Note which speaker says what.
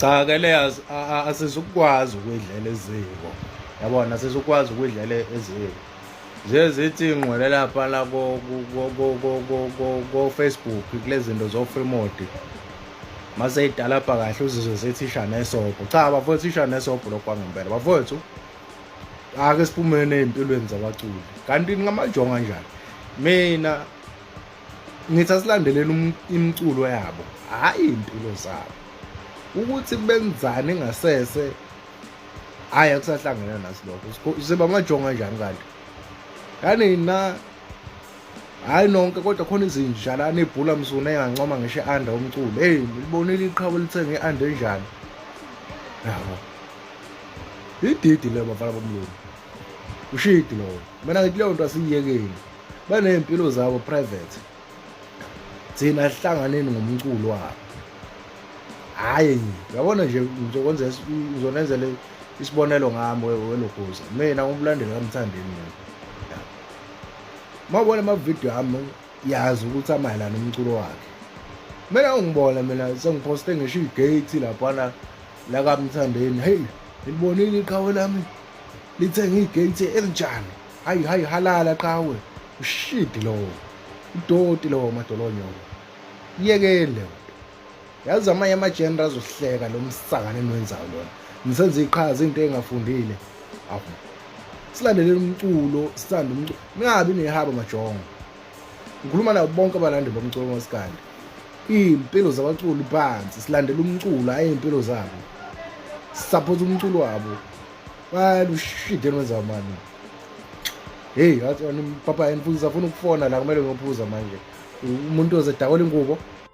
Speaker 1: cha ke le asizukwazi ukuyidlela eziko yabona asizukwazi ukuyidlela eziko nje zithi ngqwele lapha la ko-facebook kule zinto zo-free mode mase idalabha kahle uzizwe sethisha nesobho cha bafowethu isha nesobho lokhu kwangempela bafowethu ake siphumeni ey'mpilweni zabaculi kanti ngamajonga njani mina ngithi asilandeleni um-, imiculo yabo hhayi iy'mpilo zabo ukuthi benzani ngasese hhayi akusahlangene naso lokho siba amajonga njani kanti kanina hhayi nonke kodwa khona izinjalane ibhula msuna engancoma ngisho i-anda umculo eyi libonile iqhawe lithenge i-anda enjani yabo ididi leyo bafana bomlungu ushidi lowo mina ngithi leyo nto asiyiyekeni baney'mpilo zabo private thina sihlanganeni ngomculo wabo hhayi yabona nje ngizonenzela isibonelo ngami welogoza mina ngumlandeli kamthandeni mina mawubona amavidiyo ami yazi ukuthi amayelana umculo wakhe mina ungibona mina sengiphoste ngisho igate laphana lakamthandeni heyi ngilibonile iqhawe lami lithenge igate elinjani hayi hayi halala qhawe ushidi lowo udoti lowo madolonyoko yekeni leyo yazi amanye amajenera azohleka lo msakane enwenzayo lona nisenza iqhaza into engafundile awu silandelele umculo sithanda umculo ningabi nehaba majongo ngikhuluma nabo bonke abalandi bomculo ngosikandi iy'mpilo zabaculi phansi silandela umculo hhayi iy'mpilo zabo sisaphosa umculo wabo Man, shit, then what's up, man? Hey, papa, and Puza, Funuk Fona, like, Melo Puza, man. Umuntu oze dakole ingubo